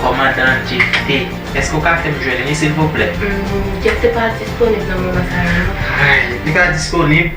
Kòmandan Jefte, èske ou ka fè m jwenn li silvouplè? Jefte pa disponib nan moman sa a non. Li pa disponib?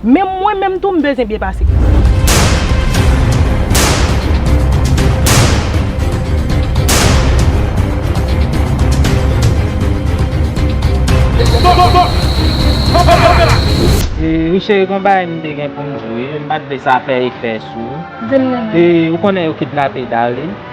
Menm mwen menm tou m bezyen byen pase. Wi cheri gon bagay m te gen pou m diw wi m pat vle sa fè efè sou ou. Di m nan. Ou konnen yo kidnape Darline?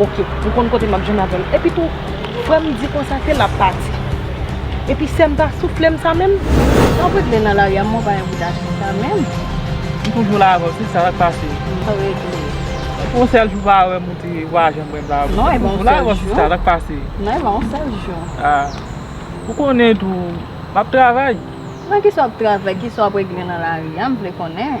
Ok, ou konn kote map jwenn avèl. Epi tou, frèm di konsa se lap pati. Epi sèm pa souflem sa menm. Map regle nan lari a mwen pa envite atis la menm. M toujou la avèw se sa sak pase. Map regle. Epi on sèl jou pa wèm ou te pa janm wèm la avèw. M toujou la avèw se sa sak pase. Non epa on sèl jou. Ah. Ou konnen tou map travay. Nan kisa wap travay, kisa wap regle nan lari a m vle konnen.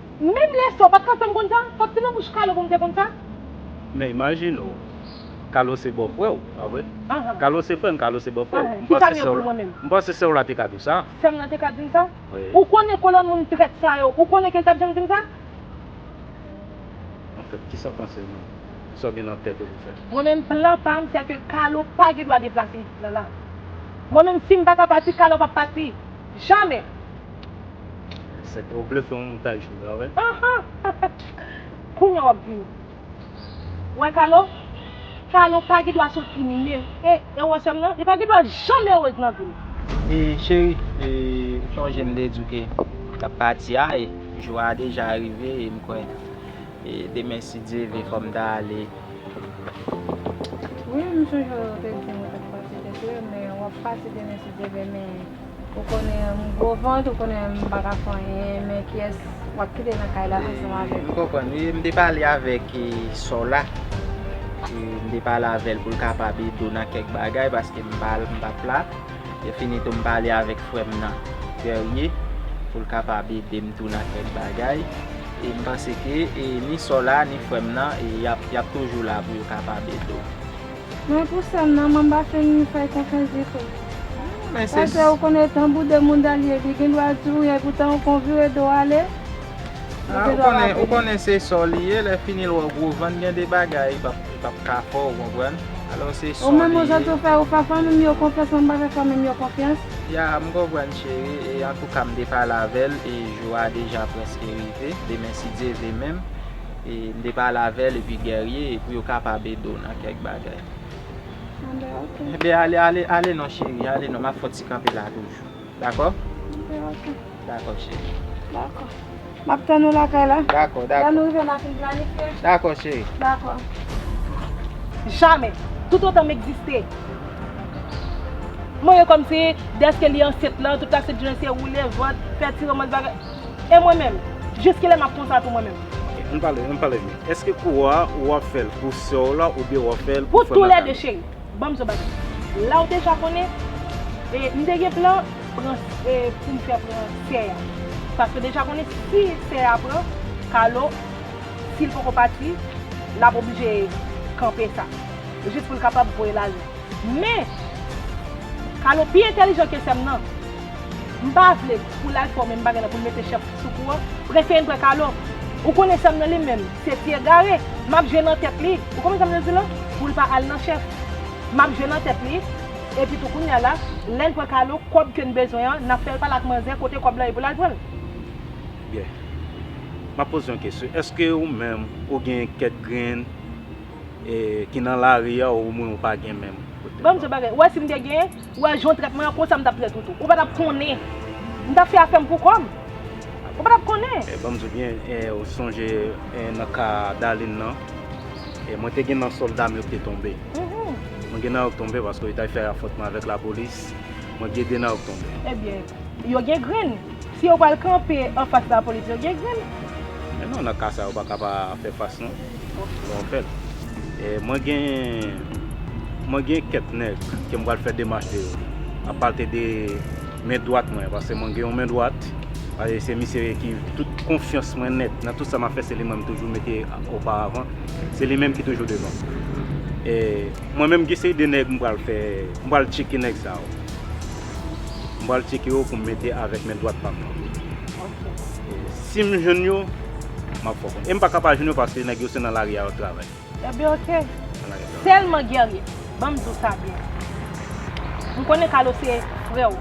Menm lè sa ou pat k antann konn sa, fòk se nan bouch Carlo pou m te konn sa. Men imajine w, Carlo se bòfrè w, pa vre? Carlo se frè m, Carlo se bòfrè w. Ki sa m ye pou mwen menm? M panse sè w la te ka di w sa. Sè m nan te ka di m sa? Ou konnen kolòn moun trèt sa yo, ou konnen ke l t ap janm di m sa? Anfèt, ki sa w panse menm? Ki sa w gen nan tèt ou pou w fè? Mwen menm, plan pa m sè ke Carlo pa gen dwa deplase isit la la. Mwen menm, si m pa ka pati, Carlo p ap pati. Jamè! Sèt ou vle fè yon montaj tou la wè. Kounya wap vin wè kalo kalo pa gen dwa sot ui me e ewo sèm nan li pa gen dwa janm erez nan vil. E cheri e ou sonje m te di w ke m tap pati a e jou a deja rive e m kwè e demen si Dye vle fò m ta ale. Wi m sonje w te di m ou tap pati te klè men wap pati demen si Dye vle men. Ou konnen m gwo vant, ou konnen m pa ka fè anyen, men kiyès w ap kite nan kay la ansanm avè m? M konprann wi, m te pale avèk Sola, m te pale avè l pou l kapab ede w nan kèk bagay paske m pa t la, lèfini tou m pale avèk frè m nan, Guerrier, pou l kapab ede m tou nan kèk bagay, e m panse ke ni Sola ni frè m nan y ap toujou la pou yo kapab ede w. Men pou sèm nan mwen pa fin fèy konfyans ditou. Pase ou konn etan boude moun Dalie li gen dwa di ou wi epoutan ou kon vire do ale li gen dwa raple. Ou konnen se sa w li ye lè fini l wè gwo van gen de bagay li pap ka fè w konprann. Alò se sa w li ye. Ou menm ou sot ou fè ou fè fanmi m yo konfyans mwen pa fè fanmi m yo konfyans. Ya m konprann cheri e antouka m te pale avè l e jou a deja prèske rive demen si Dye vle menm M te pale avè l epi Guerrier pou yo kapab ede w nan kèk bagay. Bon ben ok. Ben ale ale ale non cheri ale non m ap fè w ti kanpe la toujou. Dakò? Bon ben ok. Dakò cheri. Dakò. M ap tann ou lakay la. Dakò dakò. Lè nou rive n a fin planifye. Dakò cheri. Dakò. Jamè! Toutotan m egziste! M wè kòmsi dèske li ansent lan tout l ap fè se woule vant, fè ti romans bagay. E mwen menm? Jis kilè map konsa tou mwen menm? Ann pale, ann pale byen. Eske kou a ou ap fèl pou sè w la oubyen wap fèl pou Pou frè tou lè 2 Makalo? cheri. Banm zo bagay. La ou deja konnen e m te gen plan pran e pou m fè pran sè a. Paske deja konnen si sè a pran Carlo si l poko pati lap oblije kanpe sa. Jis pou l kapab voye l ale. Men Carlo pi entèlijan ke sè m nan. M pa vle pou l al fè w menm bagay la pou l mete chèf sou kou an. M prefere l pran kalo. Ou konnen sa m nan li menm. Se ti egare. M ap jwe nan tèt li. Ou konprann sa m vle di la? Pou l pa al nan chèf. M ap jwe nan tèt li. Epi tou kounya la, lè n pran kalo, kòb ke n bezwen an, n ap fè l pale ak manzè kote kòb la ye pou l al pran l. Byen. M ap poze yon kesyon. Èske ou menm ou gen kèk grenn ki nan lari a oubyen ou pa gen menm? Ban m di w yon bagay. Ou wè si m te gen. Ou wè jan w trèt mwen an konsa m tap trèt ou tou. Ou patap konnen. M tap fè afè m pou kò m. Ou patap konnen. Banm di byen ou sonje nan ka Darline nan mwen te gen nan sòlda m yo k te tonbe. Mwen gen nan yo k tonbe paske yo t al fè afwontman avèk lapolis. Mwen gen 2 nan yo k tonbe. Ebyen yo gen grenn. Si yo pral kanpe anfas lapolis yo gen grenn. Men non nan ka sa yo paka pa fè fas non. Bon fèt. Mwen gen mwen gen kèk nèg ke m pral fè demach de yo. A pati de men dwat mwen paske mwen gen yon men dwat e se misye ki tout konfyans mwen nèt nan tout sa m ap fè se li mwen m toujou mete oparavan. Se li menm ki toujou devan. E mwen menm gen seri de nèg m pral fè m pral tcheke nèg sa yo. m pral tcheke yo pou m mete avèk men dwat pa m nan. Si m jwenn yo, m ap fè w konnen. E m pa ka pa jwenn yo paske nèg yo se nan lari a yo ap travay. Enben ok. Sèlman Guerrier, ban m di w sa byen. M konnen Carlo se frè w.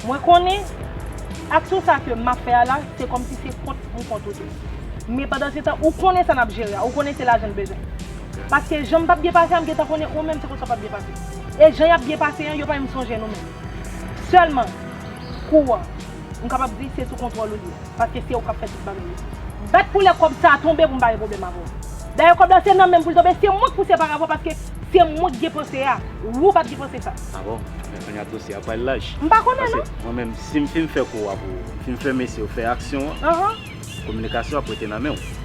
Mwen konnen aksyon sa ke m ap fè a la, se kòmsi se kont m kont ou tou. Men pandansetan, ou konnen sa n ap jere a. Ou konnen se lajan n bezwen. Paske jan m p ap byen pase a, m gentan konnen ou menm se konsa w p ap byen pase. E jan y ap byen pase an, yo pa menm sonje nou menm. Sèlman, kou an, m kapab di se sou kontwòl ou li ye, paske se ou k ap fè tout bagay yo. Bat pou lè kòb sa a tonbe pou m pa gen pwoblèm avè w. Dayè kòb la se nan men m pou l tonbe, se mwen k pouse pa avè w paske se mwen k gen panse a, wou pa t gen panse sa. A bon? Men kounye a dosye a pral laj. M pa konnen non. Paske mwen menm, si m fin fè kou a pou ou, m fin fè mesye yo fè aksyon an, kominikasyon ap rete nan men w.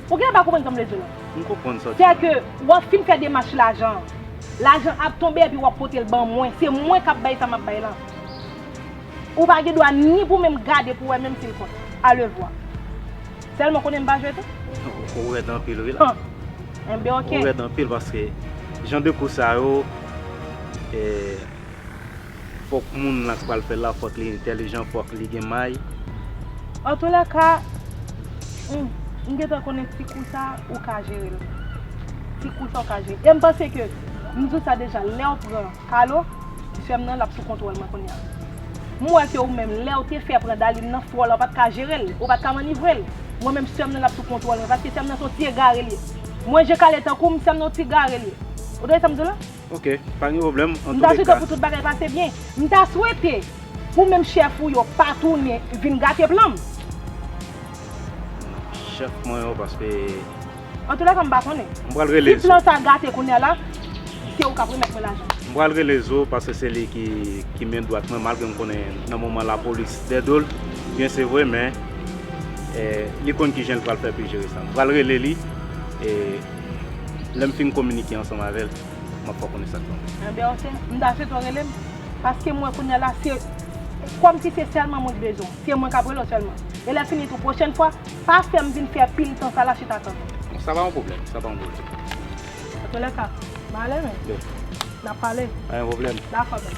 Ou genlè pa konprann sa m vle di w lan. M konprann sa w di la. Sè ke w ap fin fè demach lajan an, lajan an ap tonbe epi w ap pote l ban mwen. Se mwen k ap bay sa m ap bay lan. Ou pa gen dwa ni pou menm gade pou wè menm si l kont. Alevwa. Sèlman konnen m pa jwe tou? Ou rèd anpil wi la. Enben ok. Ou rèd anpil paske jan de kou sa yo. Fòk moun lan k pral fèl la fòk li entèlijan fòk li gen may. Antoulèka m gentan konnen ti kou sa ou ka jerel ti kou sa ou ka jere e m panse ke m di w sa deja lèw pran Carlo sèm nan lap sou kontwòl mwen kounya m wè ke ou menm lèw te fè pran Daline nan fò la ou pat ka jerel ou pat ka manivrel mwen menm sèm nan lap sou kontwòl mwen paske sèm nan son ti egare li ye mwen je kale tankou m sèm nan yon ti gare li ye ou tande sam di w la. Ok, pa gen pwoblèm, an M ta touleka. swete pou tout bagay pase byen. M ta swete pou menm chèf ou yo pa tounen vin gate plan m. Non, chèf mwen yo paske. Antoulèka m pa konnen. M pral rele Si Zo. plan sa gate kounye a la, se ou k ap remèt mwen lajan m. M pral rele Zo paske se li ki men dwat mwen malgre m konnen nan moman lapolis dè do l byen se vre men li konn kijan l pral fè pou l jere sa. M pral rele li e. Lèm fin kominike ansanm avèl map fè w konnen sak pral pase. Enben ok, m'ta swete w rele m, paske mwen kounya la se kòm si se sèlman mwen ki bezwen w, se mwen kap rele w sèlman. E lè fini tou pwochèn fwa, pa fè m vin fè pil tan sa la chita tann ou. Bon sa pa yon pwoblèm, sa pa yon pwoblèm. Antolèka, m'ale wi. Nap pale. Pa gen pwoblèm. Dakò mèt.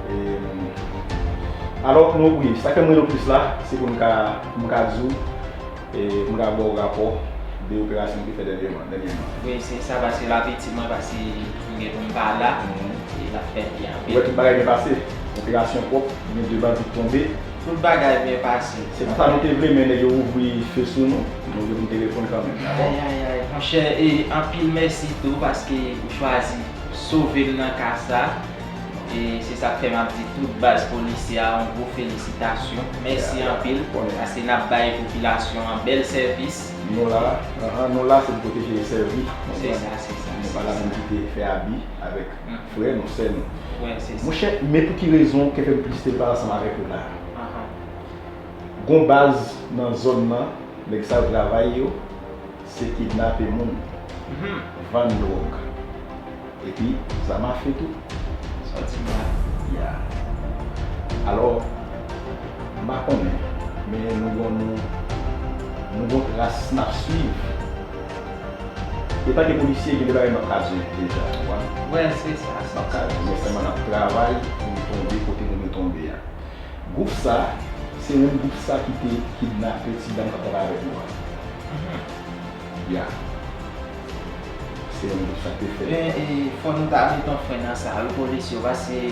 Alò, nou wi, sa fè m rele w plis la, se pou m ka, pou m ka di w, e pou m ka ba w rapò de operasyon m te fè dènyèman, dènyèman. Wi, se sa, paske l ap itil mwen, paske m gen pou m pa la, e l ap fè byen anpil. Ou wè tout bagay byen pase? Operasyon pwòp, gen 2 bandi k tonbe. Tout bagay byen pase. Se pa sa nou te vle, men nèg yo ouvri fe sou nou, nou gen pou n te reponn kanmenm, dakò? Ayayayy, monchè, e anpil mèsi tou, paske ou chwazi sove m nan ka sa. E se sak fè map di tout baz polisye a yon gwo felisitasyon. Mèsi anpil paske nap bay popilasyon an bèl sèvis. Nou la, ahan, nou la se pou pwoteje e sèvi, se sa, se sa, nou pa la pou nou kite fè abi avèk frè nou, sè nou. Wè, se sa. Monchè, men pou ki rezon kè fè m plis te vle pale ansanm avèk ou la. Ahan. Gon baz nan zòn nan, nèg sa yo travay yo, se kidnape moun, vann dwòg. Epi sa mache tou. Santi mwen ya. Alò, m pa konnen, men nou gon nou, nou gon tras n ap swiv. Etan ke polisye, gen de bagay m ap ka di deja, ou konprann? Wè, se sa, se sa. M ap ka di, men sèlman n ap travay pou n tonbe kote nou dwe tonbe a. Gwoup sa, se menm gwoup sa ki te kidnape ti dam k ap travay avèk nou an. Ya. Se yon group sak te fèt. Men fò nou ta met yon fren nan sa wi polis yo paske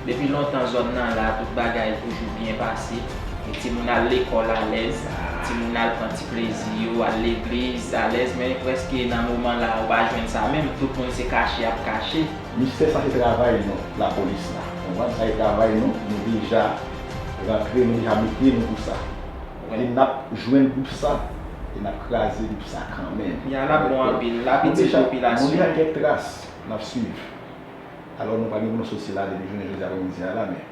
depi lontan zòn nan la tout bagay toujou byen pase e timoun al lekòl alèz, timoun al pran ti plezi yo, al legliz alèz men prèske nan moman la ou pa jwenn sa menm tout moun se kache ap kache. Mistè sa se travay nou lapolis la konprann sa se travay nou nou deja rantre nou deja mete nou pou sa. Li nap jwenn group sa e nap kraze group sa kanmenm. Yan ap bon anpil, lap itil popilasyon. Nou deja gen kèk tras nap swiv. Alò nou pa gen pou nou sot sila a depi jounen jodi aprè midi a la men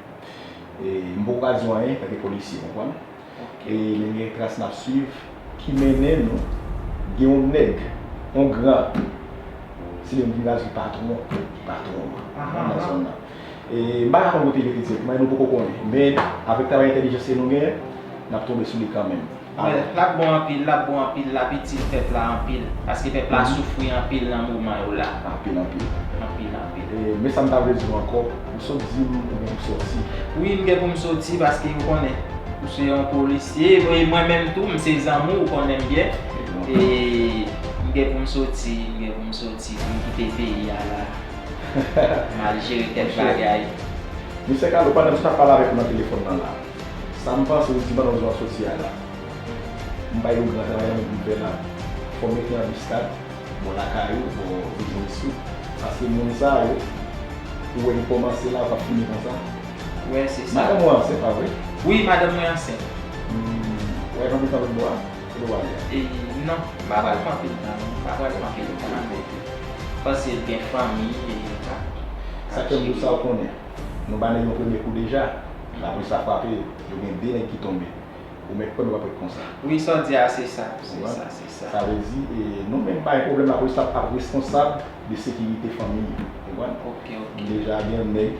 m poko ka di w anyen paske polisye konprann. E men gen tras nap swiv ki mennen nou gen yon nèg, yon gran se li menm ki vin ap di patwon, patwon nan zòn nan. M pa ka konn kote li te fèt, nou poko konnen. Men, avèk travay entèlijans ke nou gen, n ap tonbe sou li kanmenm. L ap bon anpil, l ap bon anpil, l ap itil pèp la anpil. Paske pèp la soufri anpil nan moman yo la. Anpil anpil. Anpil anpil. Men sa m ta vle di w ankò, ou sot di m ou gen pou w soti. Wi, m gen pou m soti paske ou konnen, ou se yon polisye. E mwen menm tou, m se zanmi w, ou konnen m byen. E m gen pou m soti, m gen pou m soti pou m kite peyi a la. Mal jere kèk bagay. Mesye Carlo, pandan msye tap pale avèk ou nan telefòn nan la, sam panse ou di pandan ou di wap soti a la, mbay ou gran travay nan men groupe la, fòw mete anbiskad bò lakay ou, bò biznis ou, paske moun sa yo, ou wè yo kòmanse la yo pap fini konsa. Wè se sa. Madanm ou ansent pa vre? Wi madanm mwen ansent. Ou wè yon anbiskad lòt bò a? Pou wap la. Eyy non m pa pral pran pil tan non m pa pral pran pil tan nan bèk li paske l gen fanmi e li pa Sa kèm dou sa ou konnen Nou ba nèg yon premye kou deja la polis la frape yo yo gen 2 nèg ki tonbe ou mèt kwè m yo pap ret konsa. Wi sa w di a se sa se sa se sa. Sa vle di nou menm pa gen pwoblèm la polis la ap responsab de sekirite fanmi yo ou konprann ok ok nou deja gen yon nèg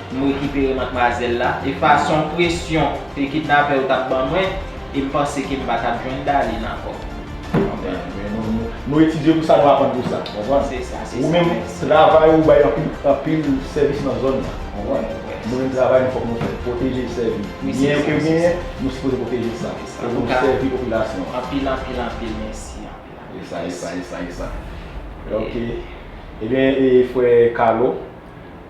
Nou rekipere matmwazèl la e fason presyon ke kidnapè yo tap ban mwen e m panse ke m pa tap jwenn Darline ankò. Ou konprann? Men nou etidye pou sa, nou aprann pou sa. Konprann? Se sa, se sa. Ou menm, travay ou bay anpil, anpil sèvis nan zòn nan. Konprann? Nou menm travay nou fòk nou fè. Pwoteje sèvi. Byen yo ke genyen, nou sipoze pwoteje sa. Pou nou sèvi popilasyon an. Anpil, anpil, anpil mèsi. Anpil, anpil mèsi. E sa, e sa, e sa, e sa. Ok. Ebyen, e frè Carlo.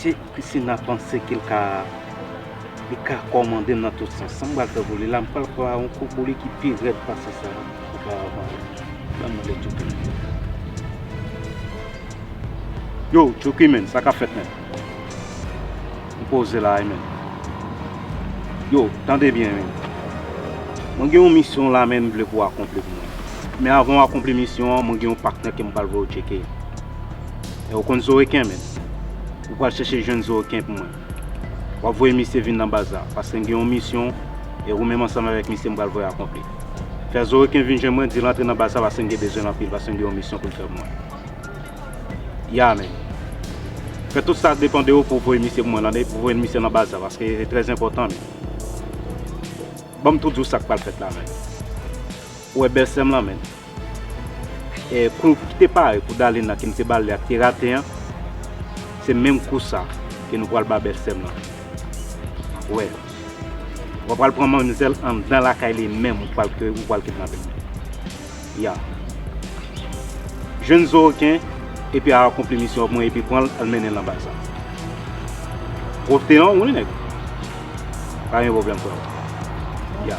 Si Christina panse ke l ka li ka kòmande m nan tout sans, sa m pral fè pou li la, m pral pran yon kou pou li ki pi rèd pase sa oparavant yo. Ban mwen lè Tchouky menm. Yo, Tchouky menm, sa k ap fèt menm? M poze la a menm. Yo, tande byen menm. Mwen gen yon misyon la a menm m vle pou w akonpli pou mwen. Men avan w akonpli misyon an, mwen gen yon paknè ke m pral voye w tcheke. E ou konn zo reken menm? Ou pral chèche jwenn zo reken pou mwen. Wap voye misye vin nan baz la, paske m gen yon misyon e ou menm ansanm avèk misye m pral voye akonpli. Fè zo reken vin jwenn mwen, di l antre nan baz la paske m gen bezwen l anpil, paske m gen yon misyon pou l fè pou mwen. Ya men. Fè tout sa k depan de ou pou w voye misye pou mwen tande, pou w voye misye nan baz la, paske li trè enpòtan men. Ban m tou di w sa k pral fèt la men. Ou wè bèl sè m lan men? Kou ki te pare pou Dalin la ke m te ba l li a ki te rate an, se menm kou sa ke nou pral ba bèlsè m lan. M ap wè. W apral pran manmzèl anndan lakay li menm ou pral kidnape l. Ya. Jwenn Zoroken epi al akonpli misyon ak mwen epi pran l al mennen l nan baz la. Pwòpte an wi nèg. Pa gen pwoblèm frè m. Ya.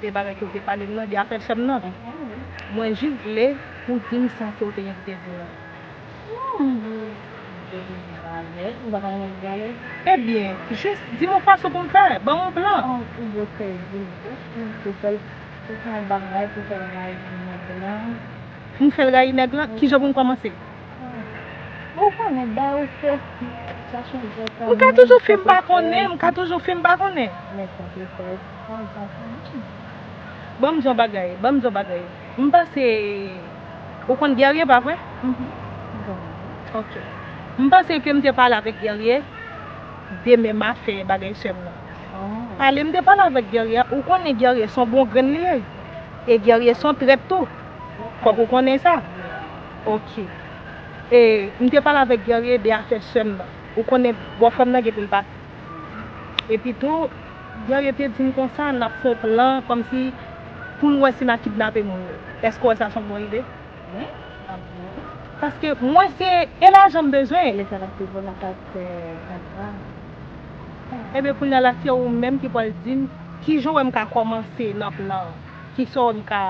Gen bagay ke ou te pale m nan, li a fè sèm nan. Mwen jis vle pou w di m sa ke ou te gen pou w te di m nan. Ebyen, jis di m yon fason pou m fè, ban m yon plan. Pou m fè l rayi nèg lan? Kijan pou m kòmanse? M ka toujou fè m pa konnen, m ka toujou fè m pa konnen. Banm di yon bagay, banm di yon bagay, m pase, ou konn Guerrier pa vre? Ok, m pase ke m te pale avèk Guerrier de menm afè bagay sè m nan. Pale m te pale avèk Guerrier a, ou konnen Guerrier son bon grenn li ye, e Guerrier son trèt tou, fòk ou konnen sa. Ok, e m te pale avèk Guerrier de afè sè m nan, ou konnen bò frè m nan gen pou l pa. Epi tou, jan yo te di m konsa, n ap fè yon plan kòmsi pou n wè si n a kidnape moun yo. Èske w wè sa se yon bon ide? Wi, m ap di wi. Paske mwen se e lajan m bezwen. Lè sa l ap di bon n ap al fè antrav. Enben kounye a la se ou menm ki pral di m kijan w wè m ka kòmanse nan plan an. Kisa w wè m ka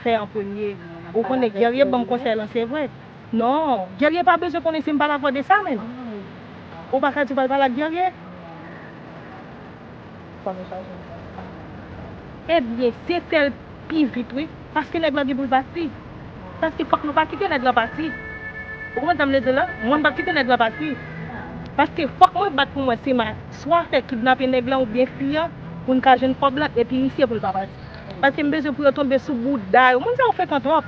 fè an premye. Ou konnen Guerrier ban m konsèy lan se vre. Non, Guerrier pa bezwen konnen si m pa dakò de sa menn. Ou pa ka di w pral pale ak Guerrier. Ebyen, se fè l pi vit wi. Paske nèg lan gen pou l pati. Paske fòk nou pa kite nèg lan pati. Ou konprann sa m vle di w la? Mwen m pap kite nèg lan pati. Paske fòk mwen bat pou mwen si m a swa fè kidnape nèg lan oubyen fi an pou n ka jwenn kòb lan epi misye pou l pa pati. Paske m bezwen pou yo tonbe sou bouda yo. Moun sa yo frekan twòp.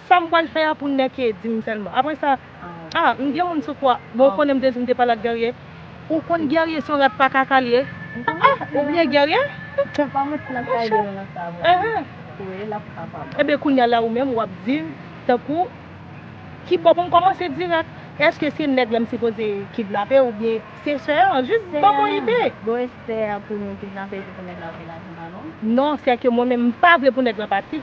Sam pwal fè a pou nèke dim sèlman aprè sa ah m gen moun sou kwa bon ou konnen m te di m te pale ak guerrier ou konn guerrier son rat pa kaka liye ah ou byen guerrier eeh eben kounya la ou menm wap dim tankou ki bò pou m kòmanse dirèk eske se nèg la m sipoze kidnape ou byen se sè an jis banm yon ide non sè ke mwen menm m pa vle pou nèg la pati.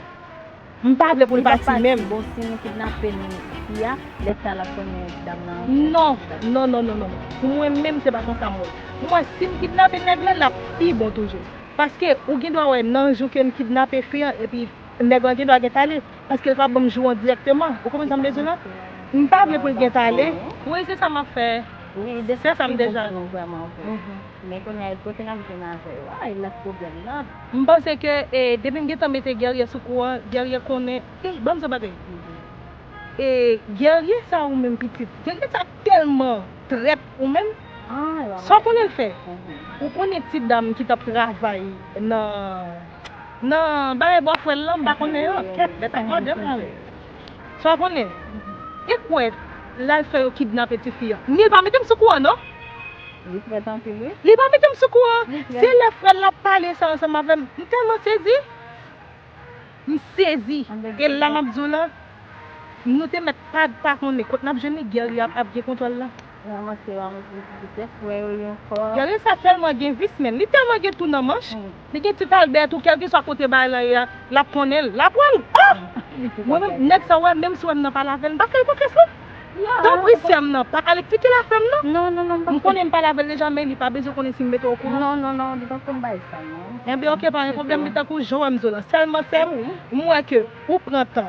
M pa vle pou l pati menm. Bon si nou kidnape l isit a lè sa lap konn yon ti dam nan. Non non non non non pou mwen menm se pa konsa m wè l. Pou mwen si m kidnape nèg lan lap pi bon toujou. Paske ou gen dwa wè nan jou ke m kidnape fi an epi nèg lan gen dwa gen tale paske l pa banm jou an dirèkteman. Ou konprann sa m vle di w la? M pa vle pou l gen tale. Wi se sa map fè. Wi de sa m deja. Men kounye a kote nap jwenn avè yo a e la pwoblèm nan. M panse ke depi m gentan mete guerrier sou kou an guerrier konnen ey banm zò bagay e guerrier sa ou menm pitit guerrier sa telman trèt ou menm sa w konnen l fè ou konnen ti dam ki tap travay nan nan bagay bò frè l lan m pa konnen an Fè w konnen, e kwè l al fè yo kidnape tifi an. Neel pa mete m sou kouran non. Li frèt anpil wi. Li pa mete m sou kouran. Se lè frè l ap pale sa ansanm avè m, m tèlman sezi. M sezi. E la m ap di w la, nou te mèt pa konnen kot n ap jwenn li, Guerrier ap gen kontwòl la. Manman se yon vis pou tèt frè yo li ankò. Grann sa tèlman gen vis menn li tèlman gen tou nan manch li gen ti palbè tou kèlkeswa kote bagay lan ye a lap konnenl lap wèl ohh mwen menm nèg sa wè menm si wèm nan pale avèl mpa fèl konfyans non tanpri sèm nan pa al eksplikel afèm non mkonnen mpale avèl deja men li pa bezwen konnen sim mete okouran non non non li pap konn bagay sa non enben ok pa gen pwoblèm li tankou jan wèm zo lan sèlman sèm mwen ke ou pran tan.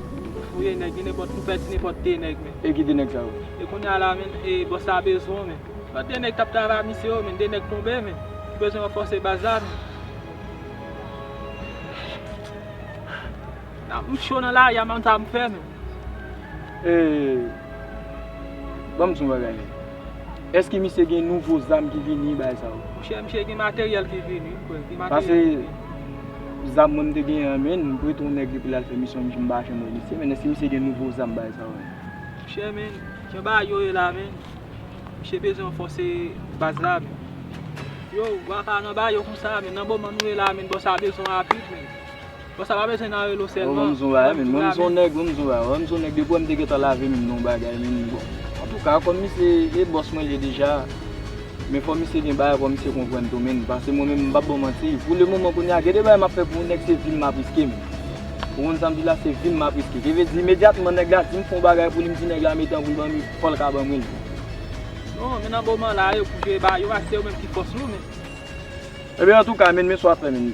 Fouye nèg gen nenpòt nou pèdi nenpòt 2 nèg men. E ki 2 nèg sa yo? E kounya la men e bòs la bezwen w men. Lòt 2 nèg kap travay a misye yo men 2 nèg tonbe men. Nou bezwen ranfòse baz la men. Nan m cho nan lari a m pa konn sa pou m fè men. E banm di yon bagay. Eske misye gen nouvo zam ki vini bagay sa yo. Monchè misye gen materyèl ki vini wi frè gen materyèl ki vini. Pase zam mwen mte genyen an menn m prete yon nèg epi lal fè misyon m pa janm wè misye menn eske misye gen nouvo zam bagay sa yo. Monchè menn jan bagay yo ye la menn misye bezwen ranfòse baz la menn. Yow waka nan bayo konsa menn nan moman nou ye la menn bon sa bezwen apui menn. Bon sa pa bezwen nan relo selman. Bon mzon bagay menn mwen mzon nèg wi mzon bagay wè mzon nèg depi wèm te gentan lave menm non bagay menn bon antouka kòm misye e bòs mwen liye deja men fò misye gen bagay fò misye konprann tou menn pase mwen menm mpap baw manti pou le moman kounya gen de bagay map fè pou yon nèg se vim map riske menn ou konn sam di la se vim map riske ki vle di imedyatman nèg la dim fon bagay pou li mdi nèg la mete an poul banm fòl ka banm wi non men nan moman la yo pou jwe ba yo a se yo menm ki fòs nou menn. Ebyen antouka menn men sa wap fè menn.